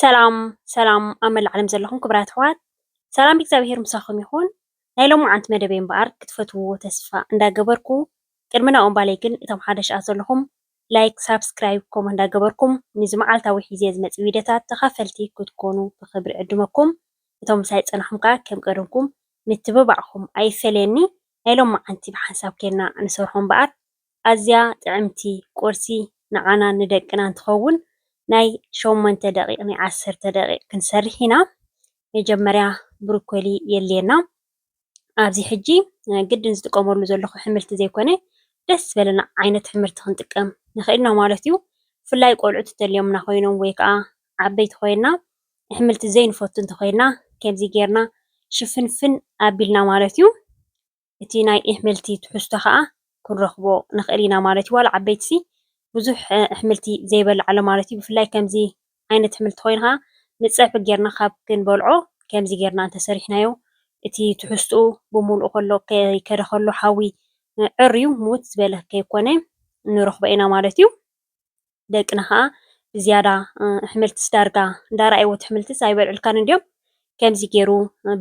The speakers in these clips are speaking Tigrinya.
ሰላም ሰላም ኣብ መላእ ዓለም ዘለኹም ክቡራት ኣሕዋት ሰላም እግዚኣብሄር ምሳኹም ይኹን። ናይ ሎምዓንቲ መደበይ እምበኣር ክትፈትውዎ ተስፋ እንዳገበርኩ ቅድሚ ናብኡ እምባለይ ግን እቶም ሓደሽኣት ዘለኹም ላይክ ሳብስክራይብ ኮሞ እንዳገበርኩም ንዚ መዓልታዊ ሒዜ ዝመጽእ ቪድዮታት ተኻፈልቲ ክትኮኑ ብኽብሪ ዕድመኩም እቶም ምሳይ ጸናኹም ከኣ ከም ቀደምኩም ምትብባዕኩም ኣይፈለየኒ ናይ ሎምዓንቲ ብሓንሳብ ኬንና ንሰርሖ እምበኣር ኣዝያ ጥዕምቲ ቁርሲ ንዓናን ንደቅናን ትኸውን ናይ ሸሞንተ ደቂቅ ናይ ዓሰርተ ደቂቅ ክንሰርሕ ኢና መጀመርያ ብሩኮሊ የድልየና ኣብዚ ሕጂ ግድን ዝጥቀመሉ ዘለኹ ሕምልቲ ዘይኮነ ደስ ዝበለና ዓይነት ሕምርቲ ክንጥቀም ንኽእል ኢና ማለት እዩ ብፍላይ ቆልዑት እንተልዮምና ኮይኖም ወይ ከዓ ዓበይቲ ኮይና ሕምልቲ ዘይንፈቱ እንተኾይና ከምዚ ጌርና ሽፍንፍን ኣቢልና ማለት እዩ እቲ ናይ እሕምልቲ ትሕዝቶ ከኣ ክንረክቦ ንክእል ኢና ማለት እዩ። ዋላ ዓበይቲ ሲ ብዙሕ እሕምልቲ ዘይበልዕ ኣሎ ማለት እዩ። ብፍላይ ከምዚ ዓይነት እሕምልቲ ኮይኑ ከኣ ንጸብሒ ጌርና ካብ ክንበልዖ ከምዚ ጌርና እንተ ሰሪሕናዮ እቲ ትሕዝትኡ ብምልኡ ከሎ ከይከደ ከሎ ሓዊ ዕርዩ ምውት ዝበለ ከይኮነ ንረክቦ ኢና ማለት እዩ። ደቅና ከኣ ብዝያዳ እሕምልትስ ዳርጋ እንዳ ረኣይዎ እቲ እሕምልትስ ኣይበልዕልካን እንድዮም ከምዚ ጌሩ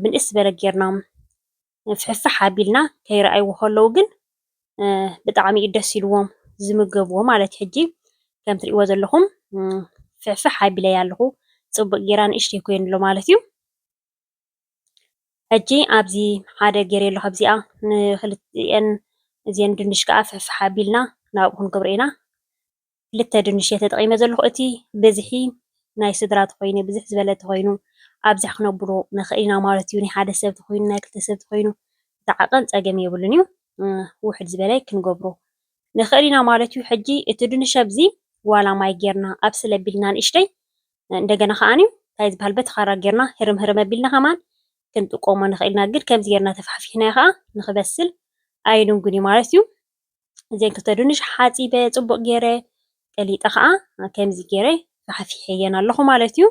ብንእስ ዝበለ ጌርና ፍሕፍሕ ኣቢልና ከይረኣይዎ ከለዉ ግን ብጣዕሚ እዩ ደስ ኢልዎም ዝምገብዎ ማለት እዩ። ሕጂ ከም ትርእይዎ ዘለኹም ፍሕፍሕ ኣቢለያ ኣለኹ ጽቡቅ ጌራ ንእሽተይ ኮይኑሎ ማለት እዩ። ሕጂ ኣብዚ ሓደ ጌረዮ ኣለኹ ኣብዚኣ ንክልቲኤን እዚኤን ድንሽ ከዓ ፍሕፍሕ ኣቢልና ናብኡ ክንገብሮ ኢና። ክልተ ድንሽ እየ ተጠቂመ ዘለኩ እቲ ብዝሒ ናይ ስድራ ተኮይኑ ብዝሕ ዝበለ ተኮይኑ ኣብዝሕ ክነብሎ ንክእል ኢና ማለት እዩ ናይ ሓደ ሰብ ተኮይኑ ናይ ክልተ ሰብ ተኮይኑ እቲ ዓቀን ፀገም የብሉን እዩ ውሕድ ዝበለ ክንገብሮ ንክእል ኢና ማለት እዩ ሕጂ እቲ ድንሽ ኣብዚ ዋላ ማይ ጌርና ኣብስል ኣቢልና ንእሽተይ እንደገና ከዓኒ እንታይ ዝበሃል በቲ ካራ ጌርና ህርም ህርም ኣቢልና ከማን ክንጥቀሞ ንክእል ኢና ግን ከምዚ ጌርና ተፋሕፊሕናዮ ከዓ ንክበስል ኣይንንጉን እዩ ማለት እዩ ዘይክተዱንሽ ሓጺበ ጽቡቕ ገይረ ቀሊጠ ከዓ ከምዚ ገይረ ፋሕፊሐየን ኣለኹ ማለት እዩ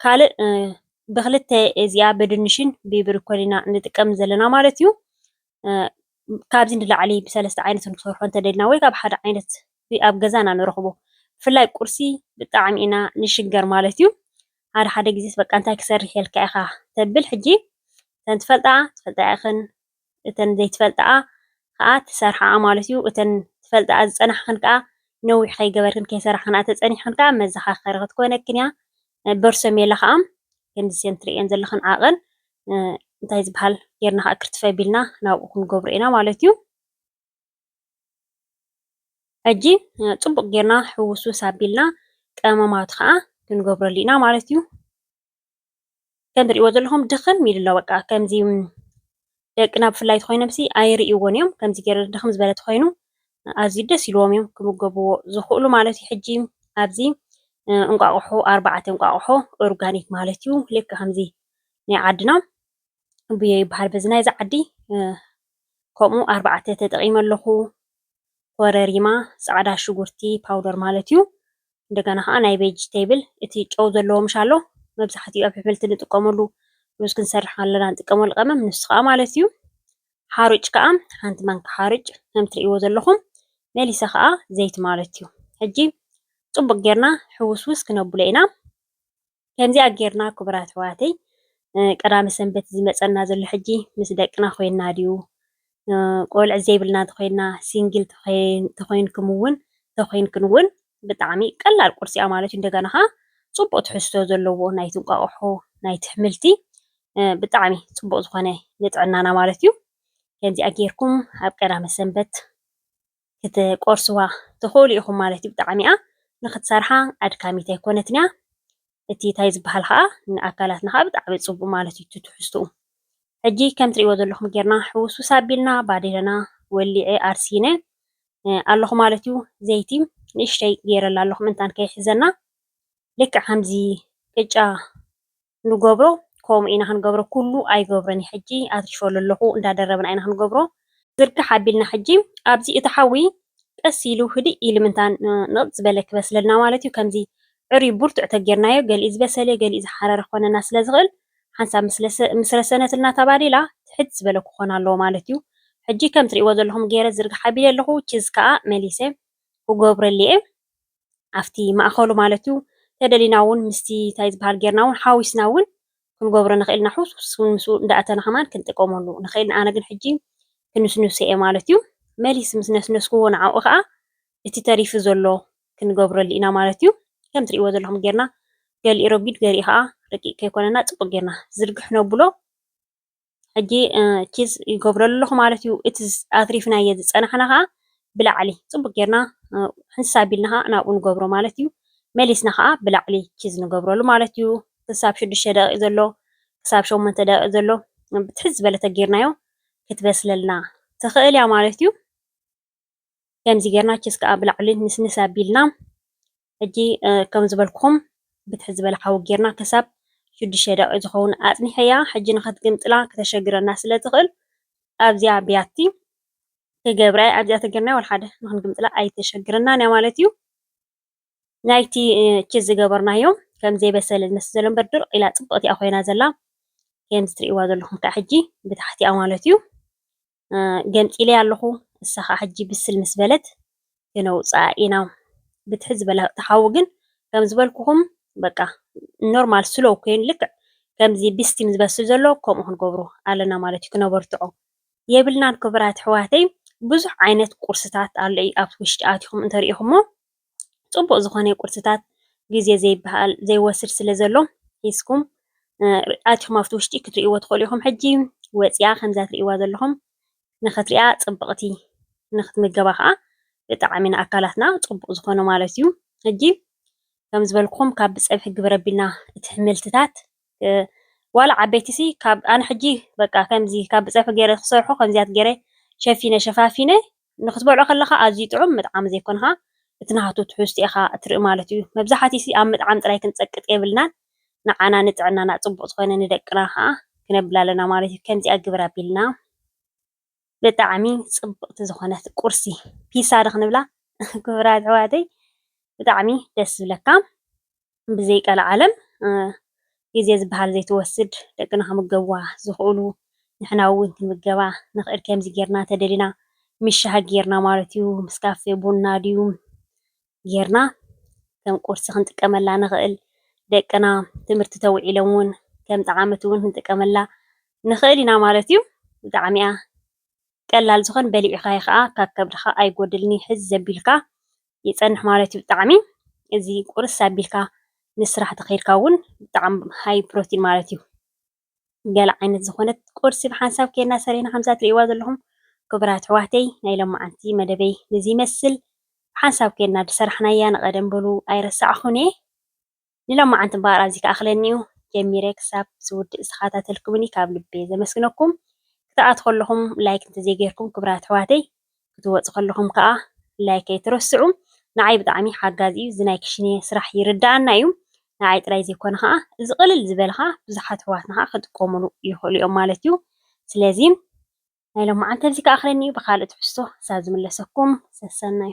ካልእ ብክልተ እዚኣ ብድንሽን ብብርኮን ኢና ንጥቀም ዘለና ማለት እዩ ካብዚ ንላዕሊ ብሰለስተ ዓይነት ንክሰርሖ እንተደልና ወይ ካብ ሓደ ዓይነት ኣብ ገዛ ኢና ንረኽቦ ብፍላይ ቁርሲ ብጣዕሚ ኢና ንሽገር ማለት እዩ ሓደ ሓደ ግዜስ በቃ እንታይ ክሰርሕ የልካ ኢኻ ተብል ሕጂ እተን ትፈልጣ ትፈልጣ ኢኽን እተን ዘይትፈልጥኣ ከኣ ትሰርሓኣ ማለት እዩ። እተን ትፈልጥኣ ዝጸናሕክን ከኣ ነዊሕ ከይገበርክን ከይሰራሕክንኣ ተጸኒሕክን ከኣ መዘኻከሪ ክትኮነክን እያ። በርሶ ሜላ ከኣ ከምዚ እዘን ትርእየን ዘለኽን ዓቐን እንታይ ዝበሃል ጌርና ከኣ ክርትፍ ኣቢልና ናብኡ ክንገብሮ ኢና ማለት እዩ። ሕጂ ጽቡቕ ጌርና ሕውስውስ ኣቢልና ቀመማቱ ከኣ ክንገብረሉ ኢና ማለት እዩ። ከም ትሪእዎ ዘለኹም ድኽም ኢሉ ኣሎ በቃ ከምዚ ደቅና ብፍላይ ተኮይኖም ሲ ኣይርእይዎን እዮም ከምዚ ገይረ ድኽም ዝበለ ተኮይኑ ኣዝዩ ደስ ኢልዎም እዮም ክምገብዎ ዝኽእሉ ማለት እዩ ሕጂ ኣብዚ እንቋቑሖ ኣርባዕተ እንቋቑሖ ኦርጋኒክ ማለት እዩ ልክ ከምዚ ናይ ዓድና ብዮ ይበሃል በዚ ናይዚ ዓዲ ከምኡ ኣርባዕተ ተጠቒመ ኣለኹ ኮረሪማ ፃዕዳ ሽጉርቲ ፓውደር ማለት እዩ እንደገና ከኣ ናይ ቬጅተይብል እቲ ጨው ዘለዎ ምሽ ኣሎ መብዛሕትኡ ኣብ ኣሕምልቲ ንጥቀመሉ ሩዝ ክንሰርሕ ከለና ንጥቀመሉ ቀመም ንሱ ከኣ ማለት እዩ ሓሩጭ ከኣ ሓንቲ ማንካ ሓሩጭ ከም ትርእይዎ ዘለኹም መሊሰ ከኣ ዘይቲ ማለት እዩ ሕጂ ጽቡቅ ጌርና ሕውስውስ ክነብሎ ኢና ከምዚኣ ጌርና ክቡራት ኣሕዋተይ ቀዳመ ሰንበት ዝመጸና ዘሎ ሕጂ ምስ ደቅና ኮይና ድዩ ቆልዕ ዘይብልና ተኮይና ሲንግል ተኮይንኩም እውን ተኮይንክን እውን ብጣዕሚ ቀላል ቁርሲ እያ ማለት እዩ እንደገና ከዓ ፅቡቅ ትሕዝቶ ዘለዎ ናይቲ እንቋቁሖ ናይቲ ኣሕምልቲ ብጣዕሚ ፅቡቅ ዝኮነ ንጥዕናና ማለት እዩ ከምዚኣ ጌርኩም ኣብ ቀዳመ ሰንበት ክትቆርስዋ ትኽእሉ ኢኹም ማለት እዩ። ብጣዕሚ'ያ ንኽትሰርሓ ኣድካሚት ኣይኮነትን'ያ። እቲ ታይ ዝበሃል ኸኣ ንኣካላትና ኸኣ ብጣዕሚ ጽቡቕ ማለት እዩ እቲ ትሕዝትኡ። ሕጂ ከም ትርእይዎ ዘለኹም ጌርና ሕውስውስ ኣቢልና ባዴለና ወሊዐ ኣርሲነ ኣለኹ ማለት እዩ። ዘይቲ ንእሽተይ ጌረላ ኣለኹ ምእንታን ከይሕዘና። ልክዕ ከምዚ ቅጫ ንገብሮ ከምኡ ኢና ክንገብሮ ኩሉ ኣይገብሮን እየ ሕጂ ኣትሪፈሉ ኣለኩ እንዳደረብና ኢና ክንገብሮ ዝርግሕ ኣቢልና ሕጂ ኣብዚ እቲ ሓዊ ቀስ ኢሉ ህድእ ኢሉ ምንታን ንቕጽ ዝበለ ክበስለልና ማለት እዩ ከምዚ ዕርዩ ብርቱዕ ተጌርናዮ ገሊኡ ዝበሰለ ገሊኡ ዝሓረረ ክኾነና ስለ ዝኽእል ሓንሳብ ምስ ረሰነትልና እታ ባዴላ ትሕት ዝበለ ክኾን ኣለዎ ማለት እዩ ሕጂ ከም ትርእይዎ ዘለኹም ጌረ ዝርግሕ ኣቢለ ኣለኹ ቺዝ ከኣ መሊሰ ክገብረሉ እየ ኣብቲ ማእከሉ ማለት እዩ ተደሊና ውን ምስቲ ታይ ዝባሃል ጌርና ውን ሓዊስና ውን ክንገብሮ ንክእል ኢና ሕውስውስ ውን ምስኡ እንዳእተና ከማን ክንጥቀመሉ ንክእል ኢና ኣነ ግን ሕጂ ክንስንሶ እየ ማለት እዩ መሊስ ምስ ነስነስክዎ ንዓኡ ከኣ እቲ ተሪፊ ዘሎ ክንገብረሉ ኢና ማለት እዩ ከም ትሪእዎ ዘለኩም ጌርና ገሊኡ ረጒድ ገሊኡ ከኣ ረቂቅ ከይኮነና ጽቡቅ ጌርና ዝርግሕ ነብሎ ሕጂ ቺዝ ይገብሮ ኣለኹ ማለት እዩ እቲ ኣትሪፍናዮ ዝፀናሕና ከዓ ብላዕሊ ፅቡቅ ጌርና ሕንሳ ኣቢልና ከዓ ናብኡ ንገብሮ ማለት እዩ መሊስና ከዓ ብላዕሊ ቺዝ ንገብረሉ ማለት እዩ ክሳብ ሽዱሽተ ደቂቅ ዘሎ ክሳብ ሸሞንተ ደቂቅ ዘሎ ብትሕዝ ዝበለተ ጌርናዮ ክትበስለልና ትኽእል እያ ማለት እዩ ከምዚ ጌርና ችስ ከዓ ብላዕሊ ንስንስ ኣቢልና ሕጂ ከም ዝበልኩም ብትሕ ዝበለ ሓዊ ጌርና ክሳብ ሽዱሽተ ደቂቅ ዝኸውን ኣጽኒሐያ ሕጂ ንኸትግምጥላ ክተሸግረና ስለ ትኽእል ኣብዚኣ ብያቲ ክገብራ እየ ኣብዚኣ ተገርና ወልሓደ ንክንግምጥላ ኣይተሸግረናን እያ ማለት እዩ ናይቲ ችስ ዝገበርናዮ ከም ዘይበሰለ ዝመስል ዘሎ እምበር ድርቅ ኢላ ጽብቕቲ እያ ኮይና ዘላ ከምዚ ትርእይዋ ዘለኹም ከዓ ሕጂ ብታሕቲኣ ማለት እዩ ገንፂለያ ኣለኹ እሳ ኸዓ ሕጂ ብስል ምስ በለት ክነውፅኣ ኢና ብትሕ ዝበለ እቲ ሓዊ ግን ከም ዝበልኩኹም በቃ ኖርማል ስሎው ኮይኑ ልክዕ ከምዚ ብስቲም ዝበስል ዘሎ ከምኡ ክንገብሮ ኣለና ማለት እዩ ክነበርትዖ የብልናን ክብራት ኣሕዋተይ ብዙሕ ዓይነት ቁርስታት ኣሎ እዩ ኣብ ውሽጢ ኣትኹም እንተሪኢኹሞ ፅቡቅ ዝኮነ ቁርሲታት ግዜ ዘይበሃል ዘይወስድ ስለ ዘሎ ሒዝኩም ኣቲኩም ኣብቲ ውሽጢ ክትሪእዎ ትክእሉ ኢኩም ሕጂ ወፂኣ ከምዛ ትሪእዋ ዘለኩም ንክትሪኣ ፅብቅቲ ንክትምገባ ከዓ ብጣዕሚ ንኣካላትና ፅቡቅ ዝኮነ ማለት እዩ ሕጂ ከም ዝበልኩም ካብ ብፀብሒ ግበር ኣቢልና እቲ ሕምልትታት ዋላ ዓበይቲ ሲ ካብ ኣነ ሕጂ በቃ ከምዚ ካብ ብጸብሒ ገይረ ክሰርሖ ከምዚያት ገይረ ሸፊነ ሸፋፊነ ንክትበልዖ ከለካ ኣዝዩ ጥዑም ምጥዓም ዘይኮንካ እቲ ናቱ ትሕዝቶ ኢካ እትርኢ ማለት እዩ መብዛሓቲ ሲ ኣብ ምጥዓም ጥራይ ክንጸቅጥ የብልናን ንዓና ንጥዕናና ጽቡቅ ዝኮነ ንደቅና ከኣ ክነብል ኣለና ማለት እዩ ከምዚኣ ግበር ኣቢልና ብጣዕሚ ፅብቅቲ ዝኮነት ቁርሲ ፒዛ ዶ ክንብላ ክቡራት ኣሕዋተይ ብጣዕሚ ደስ ዝብለካ ብዘይ ቀልዓለም ግዜ ዝበሃል ዘይትወስድ ደቅና ክምገብዋ ዝክእሉ ንሕና እውን ክንምገባ ንክእል ከምዚ ጌርና ተደሊና ምስ ሻሂ ጌርና ማለት እዩ ምስ ካፌ ቡና ድዩ ጌርና ከም ቁርሲ ክንጥቀመላ ንኽእል። ደቅና ትምህርቲ ተውዒሎም እውን ከም ጠዓመቲ እውን ክንጥቀመላ ንኽእል ኢና ማለት እዩ። ብጣዕሚ እያ ቀላል ዝኾን በሊዕኻዮ ከዓ ካብ ከብድኻ ኣይጎድልን እዩ ሕዝ ዘቢልካ ይፀንሕ ማለት እዩ። ብጣዕሚ እዚ ቁርስ ኣቢልካ ንስራሕ ተኸይድካ እውን ብጣዕሚ ሃይ ፕሮቲን ማለት እዩ። ገለ ዓይነት ዝኾነት ቁርሲ ብሓንሳብ ኬድና ሰሪሕና ከምዛ ትርእይዋ ዘለኹም ክቡራት ኣሕዋተይ ናይ ሎማዓንቲ መደበይ ንዚ ይመስል ብሓንሳብ ኬድና ድሰራሕናያ ንቀደም በሉ ኣይረሳዕኹን እየ ንሎማዓንቲ እምበኣር ኣብዚ ክኣኽለኒ እዩ ጀሚረ ክሳብ ዝውድእ ዝተኻታተልኩምኒ ካብ ልቢ እየ ዘመስግነኩም ክትኣትኹ ኣለኹም ላይክ እንተዘይጌርኩም ክቡራት ኣሕዋተይ ክትወጹ ከለኹም ከኣ ላይክ ኣይትረስዑ ንዓይ ብጣዕሚ ሓጋዚ እዩ እዚ ናይ ክሽኔ ስራሕ ይርደኣና እዩ ንዓይ ጥራይ ዘይኮነ ከኣ እዚ ቅልል ዝበለ ከኣ ብዙሓት ኣሕዋትና ከኣ ክጥቀሙሉ ይኽእሉ እዮም ማለት እዩ ስለዚ ናይ ሎምዓንቲ ኣብዚ ከኣኽለኒ እዩ ብኻልእ ትሕዝቶ ክሳብ ዝምለሰኩም ሰሰናዩ።